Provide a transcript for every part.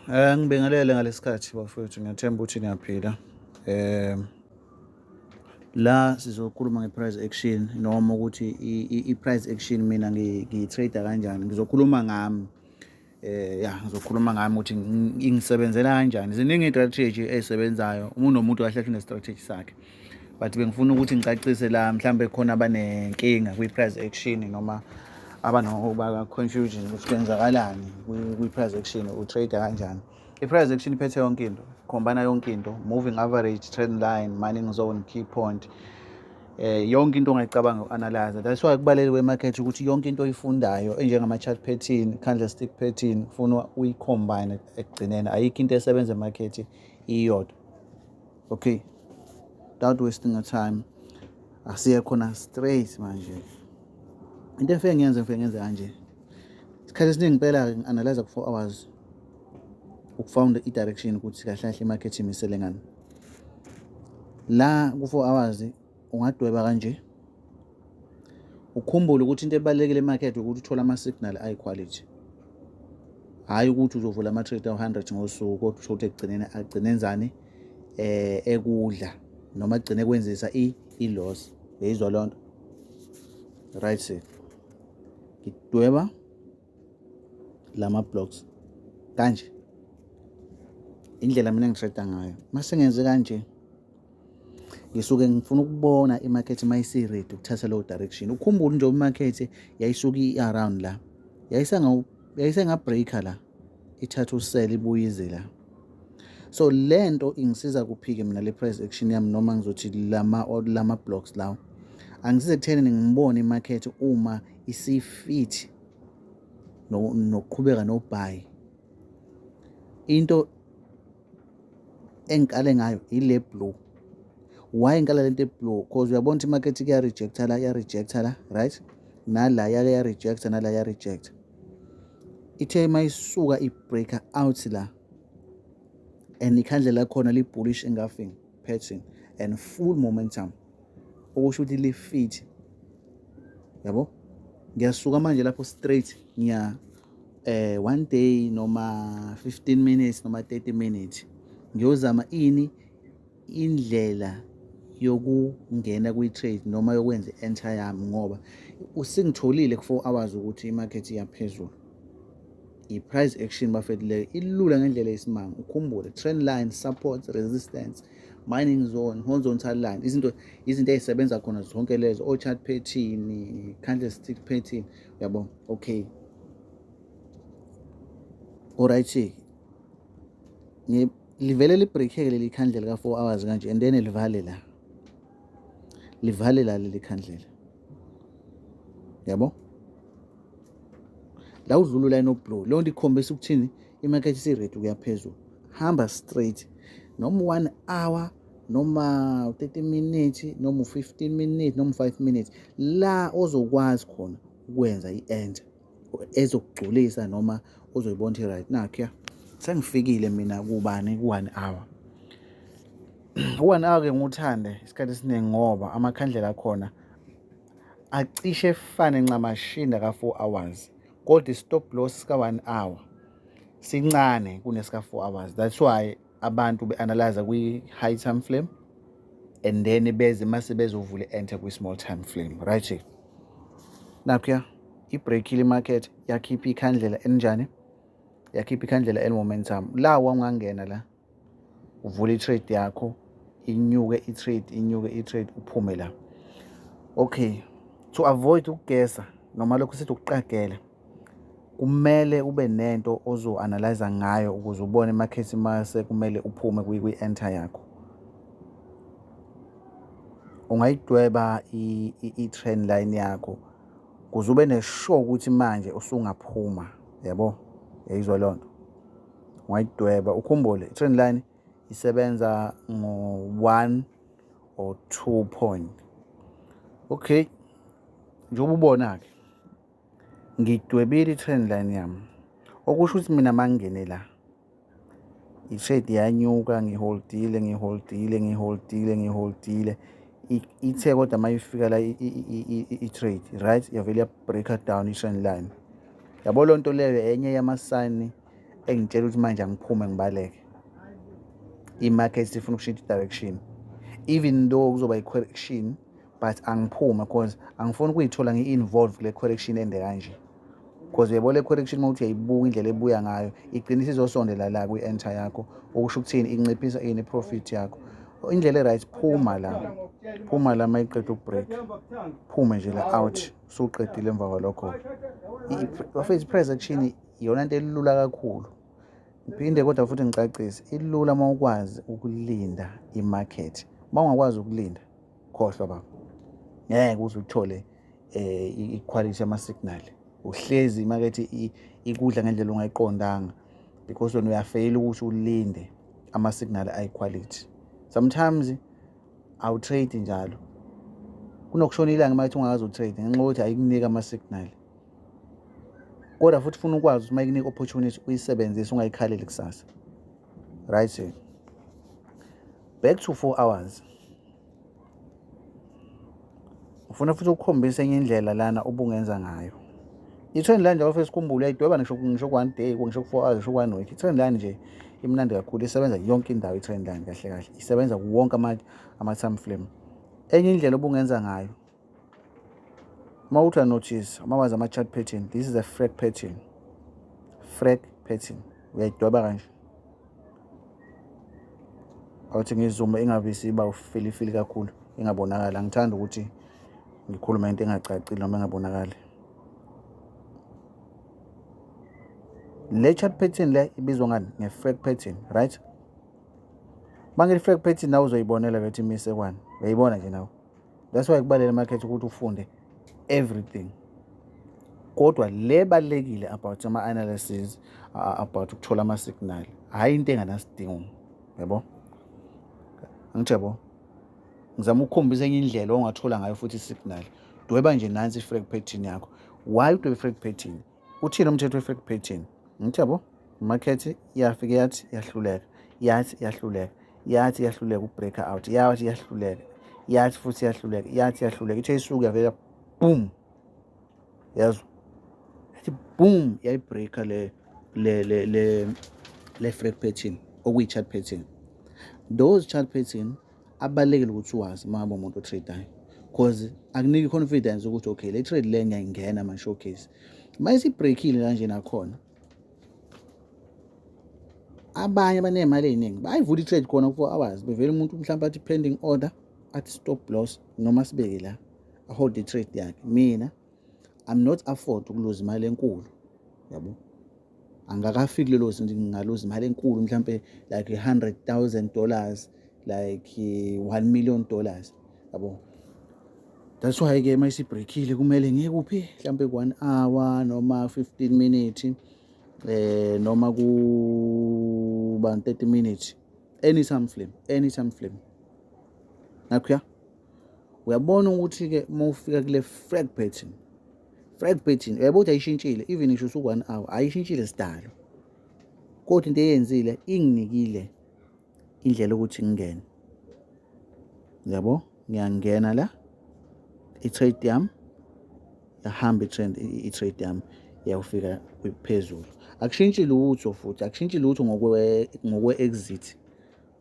Eh ngibingelele ngalesikhathi bafowethu ngiyathemba ukuthi niyaphila. Eh la sizokhuluma ngeprice action noma ukuthi iprice action mina ngiyitrade kanjani ngizokhuluma ngami eh ya ngizokhuluma ngami ukuthi ingisebenzela kanjani ziningi istrategy ezisebenzayo umuntu nomuntu kahle kahle nestrategy sakhe but bengifuna ukuthi ngicacise la mhlawumbe khona abanenkinga kwi-price action noma abanoba confusion ukuthi kwenzakalani kwi-price action utrade kanjani i-price action iphethe yonke into khombana yonke into moving average trend line mining zone key point eh yonke into ongayicabanga uanalyze that's why kubaleke kwemarket ukuthi yonke into oyifundayo enjengama chart pattern candlestick pattern ufuna uyicombine ekugcineni ayikho into esebenza emarket iyodwa okay without wasting your time asiye khona straight manje into efike ngiyenze ngifike ngenze kanje isikhathi esiningi impela-ke ngi-analyze ku-four hours ukufounda i-direction ukuthi kahle kahle imarket imisele ngani la ku-four hours ungadweba kanje ukhumbule ukuthi into ebalulekile emarket ukuthi uthole ama-signal ayi-quality hhayi ukuthi uzovula ama-trade awu-hundred ngosuku kodwa usho ukuthi ekugcineni agcine enzani eh ekudla noma agcine ekwenzisa i-loss beyizwa loo nto right sir ngidweba lama blocks kanje indlela mina ngisheda ngayo mase ngenze kanje ngisuke ngifuna ukubona imarket mayisi ready ukuthatha low direction ukhumbule nje imarket yayisuka iaround la yayisenga yayisenga breaker la ithatha usele ibuyize la so lento ingisiza kuphike mina le price action yami noma ngizothi lama lama blocks lawo angisize kutheni ngibone imarket uma isifithi nokuqhubeka nobhayi into engikale ngayo ile blue why ngikala lento eblue cause uyabona ukuthi imarket kuya-rejecta la iya-rejecta la right nala yake ya-rejecta nala ya-rejecta ithe uma isuka i-breaker out la and ikhandlela khona li-bullish engafing pattern and full momentum okusho ukuthi li-fit yabo ngiyasuka manje lapho straight ngiya eh one day noma 15 minutes noma 30 minutes ngiyozama ini indlela yokungena kwi-trade noma yokwenza i-enter yami ngoba usingitholile ku-four hours ukuthi i-market iyaphezulu I-price action bafethu leyo ilula ngendlela yesimanga ukhumbule trend line support resistance mining zone horizontal line izinto izinto ezisebenza khona zonke lezo o-chart pattern candlestick pattern uyabo okay alright livele libreakheke leli khandlela ka-four hours kanje and then livale la livale la leli khandlela yabo la udlula ulayini oblow leyo nto ikhombisa ukuthini imarket isi-red ukuya phezulu hamba straight noma one hour noma 30 minutes noma 15 minutes noma 5 minutes la ozokwazi khona ukwenza i-enter ezokugculisa noma uzoyibona ukuthi right nakhuya sengifikile mina kubani ku-one hour u-one hour ke ngiwuthande isikhathi esiningi ngoba amakhandlela akhona acishe efane ncamashinda ka-four hours kodwa i-stop loss sika-one hour sincane kunesika-four hours that's why abantu be-analyze kwi-high time flame and then beze mase bezovule enter kwi-small time flame right nakhuya ibreakile imarket yakhipha ikhandlela elinjani yakhipha ikhandlela elimumentum la wangangena la uvule i-trade yakho inyuke i-trade inyuke i-trade uphume la okay to avoid ukugesa noma lokhu sithi ukuqagela kumele ube nento ozo-analyza ngayo ukuze ubone emakhesi uma sekumele uphume kwi-enter yakho ungayidweba i-train line yakho kuze ube neshow ukuthi manje usungaphuma yabo yayizwa loo nto ungayidweba ukhumbule i-train line isebenza ngo-one or two point okay njengoba ubona-ke ngidwebile i-train line yami okusho ukuthi mina mangingene la i-shade yanyuka ngiholdile ngiholdile ngiholdile ngiholdile ithe kodwa uma ifika la i-trade right yavele ya-breaker down i-train line yabo loo nto leyo enye yamasayini engitshela ukuthi manje angiphume ngibaleke i-market sifuna ukushintsha i-direction even though kuzoba i-correction but angiphume because angifuni ukuyithola ngi-involve kule correction ende kanje because uyebo le correction uma uthi uyayibuka indlela ebuya ngayo igcina isizosondela la kwi-enter yakho okusho ukuthini inciphisa ini profit yakho indlela e-right phuma la phuma la uma iqeda ukubreak phume nje la out usuqedile emva kwalokho bafethu i-price action iyona nto elula kakhulu ngiphinde kodwa futhi ngicacise ilula uma ukwazi ukulinda imarket uma ungakwazi ukulinda khohlwa baba ngeke uze uthole eh iquality yama signal uhlezi imakethe ikudla ngendlela ongayiqondanga because wena uyafeyila ukuthi ulinde ama signal ayi quality sometimes awu trade njalo kunokushona ilanga uma ethi ungakazi utrade ngenxa yokuthi ayikunike ama signal kodwa futhi ufuna ukwazi ukuthi uma ikunika opportunity uyisebenzise ungayikhaleli kusasa right back to four hours ufuna futhi ukukhombisa enye indlela lana ubungenza ngayo i-trend line njalo fesi khumbule uyayidweba ngisho ngisho ku-one day ngisho ku-four hours ngisho ku-one week i-trend line nje imnandi kakhulu isebenza yonke indawo i-trend line kahle kahle isebenza kuwonke ama-time frame enye indlela obungenza ngayo uma uthi uyanotice uma wazi ama-chart pattern this is a frag pattern frag pattern uyayidweba kanje awuthi ngizume ingabe isiba ufilifili kakhulu ingabonakali angithandi ukuthi ngikhulume into engacacile noma engabonakali le chart pattern le ibizwa ngani nge-frag pattern right uma ngithi-frag pattern nawe uzoyibonela bethi imisekwani uyayibona nje nawe that's why kubalele market ukuthi ufunde everything kodwa le balekile about ama analysis about ukuthola ama signal hayi into enganasidingo yebo angithi yebo ngizama ukukhombisa enye indlela ongathola ngayo futhi signal dweba nje nansi i-frag pattern yakho why udweba i-frag pattern uthini umthetho we-fake painting ngithi yabo imakhethi yafike yathi yahluleka yathi yahluleka yathi yahluleka ubreak out yathi yahluleka yathi futhi yahluleka yathi yahluleka ithe isuke yavela boom yazo yathi boom yayibreaka le le le le le-frag pattern okuyi-chart pattern those chart pattern abalekile ukuthi wazi uma ngabe umuntu otradeayo because akuniki confidence ukuthi okay le trade le ngiyayingena ama-showcase uma isibreakile kanje nakhona abanye abaney'mali ey'ningi bayivula i-trade khona ku-four hours bevele umuntu mhlawumpe athi pending order athi stop loss noma sibeke la ahold i-trade yakhe mina i'm not afford ukuluza imali enkulu yabo angakafiki lelo zinto ngingaluza imali enkulu mhlampe like 100,000 dollars like 1 million dollars yabo that's why ke mayisi breakile kumele ngeke uphi mhlampe ku 1 hour noma 15 minutes eh noma ku ba 30 minutes any time flame any time flame nakho ya uyabona ukuthi-ke uma ufika kule frag pattern frag pattern uyabo ukuthi ayishintshile even ngisho usuku-one hour ayishintshile sidalo kodwa into eyenzile inginikile indlela ukuthi ngingene yabo ngiyangena la i-trade yami yahamba i-trend i-trade yami yawufika phezulu akushintshi lutho futhi akushintshi lutho ngokwe-exit ngokwe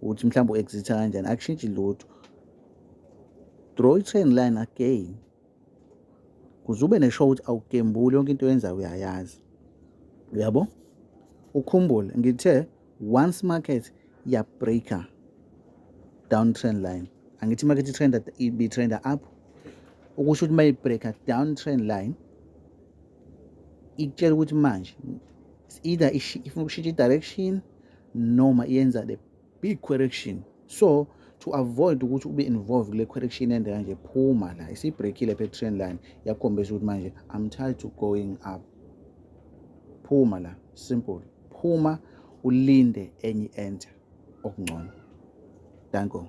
ukuthi mhlawumbe u-exita kanjani akushintshi lutho draw i-train line again kuze ube neshow ukuthi awugembuli yonke into oyenzayo uyayazi uyabo ukhumbule ngithe once market yabreaker down trend line angithi market itrenda ibitrenda up ukusho ukuthi uma ibreaker down trend line ikutshela ukuthi manje either ifuna ukushintsha i-direction noma yenza the big correction so to avoid ukuthi ube involved kule correction ende kanje phuma la isibreakile phe trend line yakhombisa ukuthi manje i'm tired to going up phuma la simple phuma ulinde enye enter okungcono danko